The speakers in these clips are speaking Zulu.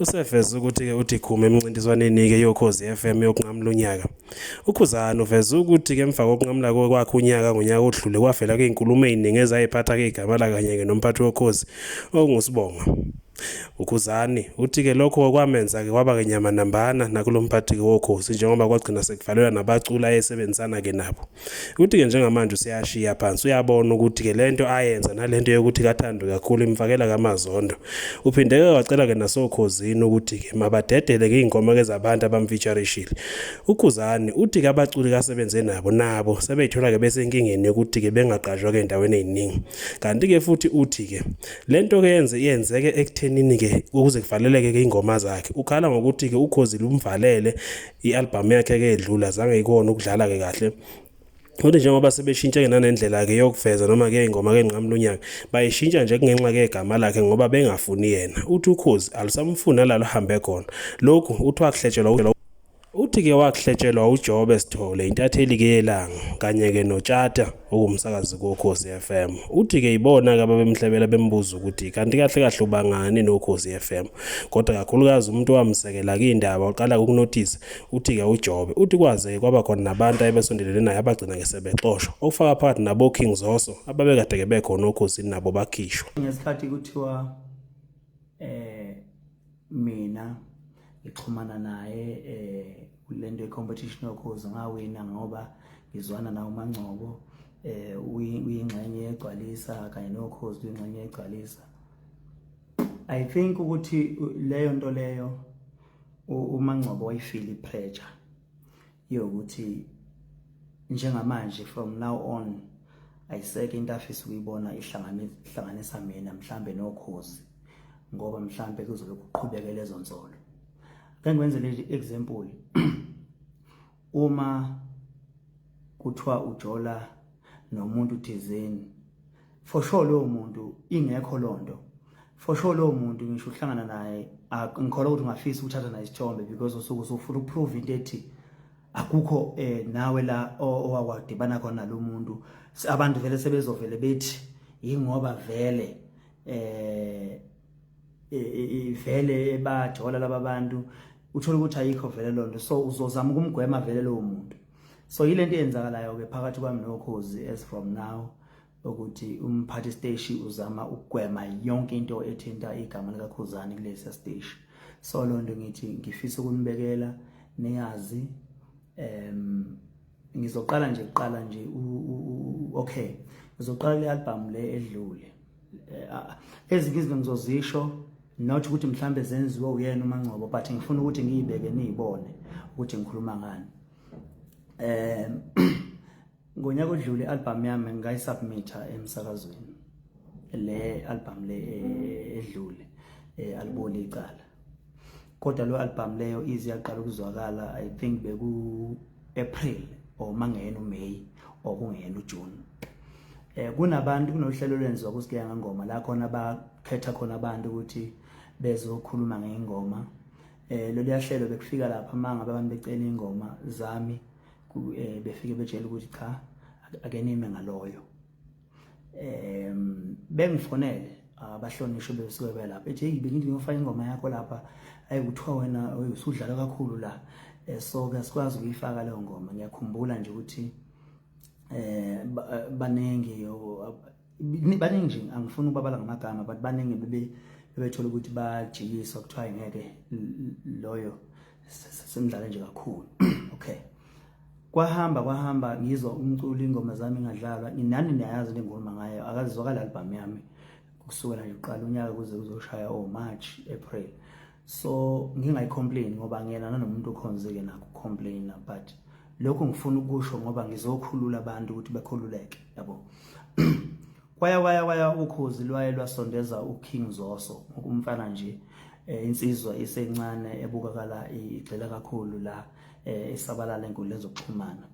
Useveze ukuthi-ke uDikhume emncintiswaneni-ke yokhozi FM yokunqamula unyaka. UKhuzani uveze ukuthi-ke emva kokunqamula kwakhe unyaka ngonyaka odlule kwavela kuy'nkulumo ey'ningi ezayiphatha-ke igama lakanye-ke nomphathi wokhozi okunguSibonga. UKhuzani uthi-ke lokho kwamenza-ke kwaba-ke nyamanambana nakulo mphathi-ke wokhozi njengoba kwagcina sekuvalelwa nabaculi ayesebenzisana-ke nabo. Ukuthi-ke njengamanje useyashiya phansi uyabona ukuthi-ke le nto ayenza nale nto yokuthi kathando kakhulu imfakela kamazondo. Uphinde-ke wacela-ke nasokhozini ukuthi-ke mabadedele-ke iy'nkomo-ke zabantu abamfeaturishile. UKhuzani uthi-ke abaculi kasebenze nabo nabo sebeyithola-ke besenkingeni yokuthi-ke bengaqashwa-ke ey'ndaweni ey'ningi. Kanti-ke futhi uthi-ke le nto-ke yenze yenzeke ekuthenini-ke ukuze kuvaleleke-ke iy'ngoma zakhe. Ukhala ngokuthi-ke uKhozile umvalele i-albhamu yakhe-ke edlula zange ikona ukudlala-ke kahle Kodwa njengoba sebeshintshe-ke nanendlela-ke yokuveza noma-ke ingoma-ke enqamu lonyaka bayishintsha nje kungenxa-ke yegama lakhe ngoba bengafuni yena uthi ukhozi alusamfuni nalalo hambe khona lokhu uthi wakuhletshelwa uthi-ke wakuhletshelwa ujobe sithole intatheli-ke yelanga kanye-ke notshata owumsakazi kokhozi FM uthi-ke yibona-ke ababemhlebela bembuza ukuthi kanti kahle kahle ubangani nokhozi FM kodwa kakhulukazi umuntu owamsekela kuyindaba uqala ukunothisa uthi-ke ujobe uthi kwaze-ke kwaba khona nabantu ayebesondelene naye abagcina-ke sebexoshwa okufaka phakathi nabo-king zoso ababekade-ke bekhona okhozini nabo bakhishwa ngesikhathi kuthiwa um mina ngixhumana naye eh kulento yecompetition yokhozi ngawina ngoba ngizwana nawo mangcobo eh uyingxenye yegcwalisa kanye nokhozi uyingxenye yegcwalisa i think ukuthi leyo nto leyo umangcobo wayifili pressure yokuthi njengamanje from now on ayiseke into afisa ukuyibona ihlanganisa mina mhlambe nokhozi ngoba mhlambe kuzobe kuqhubeke lezo nsolo ke ngwenze le example uma kuthiwa ujola nomuntu thizeni for sure lowo muntu ingekho lonto for sure lowo muntu ngisho uhlangana naye ngikholwa ukuthi ungafisa ukuthatha naye isithombe because usuke usufuna ukuprove into ethi akukho eh nawe la owawadibana khona lo muntu abantu vele sebezovele bethi yingoba vele eh ivele ebajola laba bantu uthola ukuthi ayikho vele lonto so uzozama ukumgwema vele lowo muntu so yilento eyenzakalayo ke phakathi kwami nokhozi as from now ukuthi umphathi steshi uzama ukugwema yonke into ethinta igama likakhuzani kulesi steshi so lo nto ngithi ngifisa ukunibekela niyazi em ngizoqala nje kuqala nje okay ngizoqala le album le edlule eh, ah, ezinye izinto ngizozisho not ukuthi mhlambe zenziwe uyena uMangcobo but ngifuna ukuthi ngiyibeke niyibone ukuthi ngikhuluma ngani eh ngonyaka odlule album yami ngayisubmita emsakazweni le album le eh, edlule eh, aliboli icala kodwa lo album leyo ize yaqala ukuzwakala i think beku April or mangeyena uMay or kungeyena uJune eh kunabantu kunohlelo lwenziwa kusigeya ngengoma la khona bakhetha khona abantu ukuthi bezokhuluma ngengoma eh lolu yahlelo bekufika lapha manga abantu becela ingoma zami eh, befike betshela ukuthi cha akenime ngaloyo um bengifonele abahlonishwe besuke belapha ethi heyi bengithi ngiyofaka ingoma yakho lapha ayi kuthiwa wena usudlala kakhulu la eh, so ke sikwazi ukuyifaka leyo ngoma ngiyakhumbula nje ukuthi eh baningi baningi nje angifuni ukubabala ngamagama but baningi bebe bebethola ukuthi bajikiswa kuthiwa ngeke loyo semdlale nje kakhulu okay kwahamba kwahamba ngizwa umculo ingoma zami ngadlalwa nginani niyayazi le ngoma ngayo akazizwakala album yami kusukela nje uqala unyaka kuze kuzoshaya o oh, March April so ngingayicomplain ngoba ngiyena nanomuntu okhonzeke nakho complain but lokho ngifuna ukusho ngoba ngizokhulula abantu ukuthi bakhululeke yabo kwaya kwaya kwaya ukhozi lwaye lwasondeza uKing Zoso ngokumfana nje eh, insizwa isencane ebukakala igxila kakhulu la eh, esabalala enkundleni zokuxhumana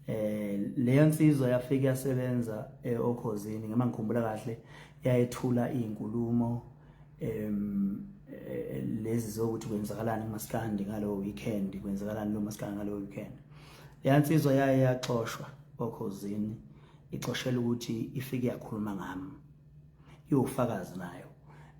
eh leyo nsizwa yafika yasebenza eh, okhozini ngema ngikhumbula kahle yayethula izinkulumo em eh, lezi zokuthi kwenzakalani kumaskandi ngalowo weekend kwenzakalani lo maskandi ngalowo weekend leya nsizwa yaye yaxoshwa okhozini ixoshela ukuthi ifike yakhuluma ngami iwufakazi nayo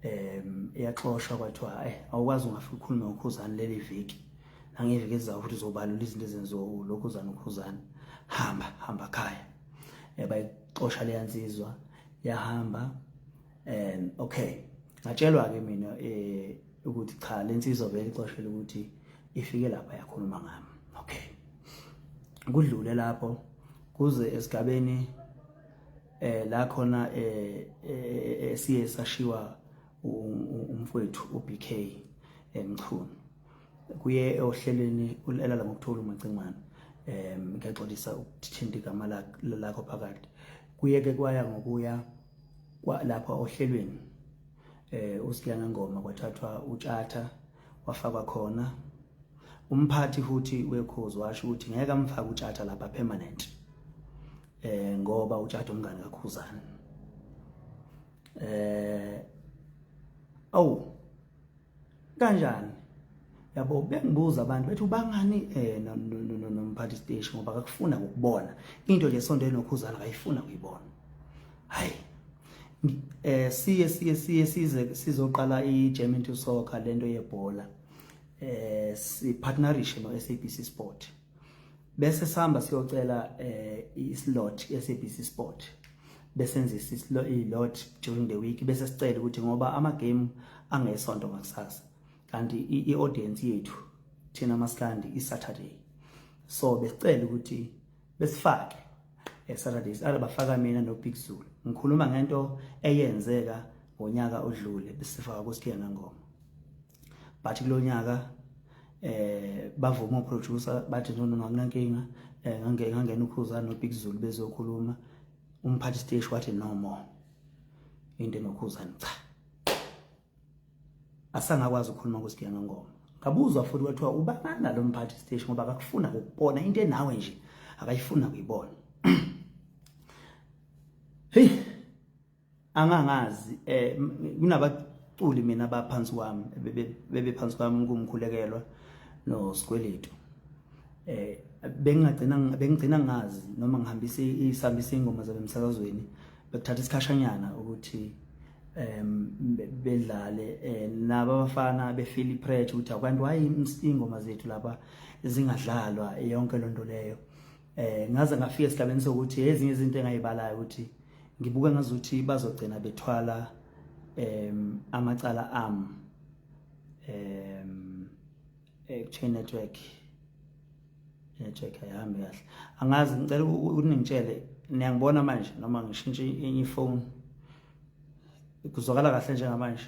um iyaxoshwa kwathiwa eh awukwazi ungafika ukhulume ngokhuzane leli viki nangeviki ezayo futhi uzobalula izinto ezenziwa ulokhuzane ukhuzane hamba hamba khaya eh, bayixosha leya nsizwa yahamba um okay ngatshelwa-ke mina um ukuthi cha le nsizwa vele ixoshele ukuthi ifike lapha yakhuluma ngami okay kudlule lapho kuze esigabeni eh la khona eh, eh, eh siye sashiwa umfowethu uBK emchunu kuye ohlelweni ulala ngokuthola umacingwane em ngiyaxolisa ukuthinta igama lakho phakathi kuye ke kwaya ngokuya lapha ohlelweni eh uSiyana Ngoma kwathathwa utshatha wafakwa khona umphathi futhi wekhozi washo ukuthi ngeke amfake utshatha lapha permanent eh ngoba utshatha umngane kakhuzana eh awu kanjani yabo bengibuza abantu bethi ubangani eh nomphathi station ngoba akakufuna ukubona into nje sonto enokhuzana akayifuna kuyibona hayi eh siye siye siye size sizoqala iGerman to Soccer lento yebhola eh si partnership no SABC Sport bese sihamba siyocela eh islot SABC Sport besenzisa islo ilot during the week bese sicela ukuthi ngoba ama game angesonto ngakusasa kanti i audience yethu thina maskandi i Saturday so besicela ukuthi besifake esaturdays ara bafaka mina nobig zulu ngikhuluma ngento eyenzeka ngonyaka odlule besifaka kusikiya ngangoma but kulonyaka eh bavuma uproducer bathi no no anginankinga eh ngange ngangena ukhuza nobig zulu bezokhuluma umphathi stage wathi no more into enokhuzani cha asangakwazi ukukhuluma kusigiya ngengoma ngabuzwa futhi kwathiwa ubangani nalo mphathi siteshi ngoba akakufuna ukubona into enawe nje akayifuna kuyibona hey angangazi eh kunabaculi mina abaphansi kwami bebe phansi kwami kumkhulekelwa no sikweletu eh bengagcina bengigcina ngazi noma ngihambisa isambisa ingoma zabe emsakazweni bekuthatha isikhashanyana ukuthi um bedlale eh, naba abafana befeel ipressure ukuthi abantu why ingoma zethu laba zingadlalwa yonke lonto leyo eh ngaze ngafika esigabeni sokuthi ezinye izinto engayibalayo ukuthi ngibuke ngazuthi bazogcina bethwala em amacala am em eh chain network network ayihambi kahle angazi ngicela uningitshele niyangibona manje noma ngishintshe enye ifoni kuzwakala kahle njengamanje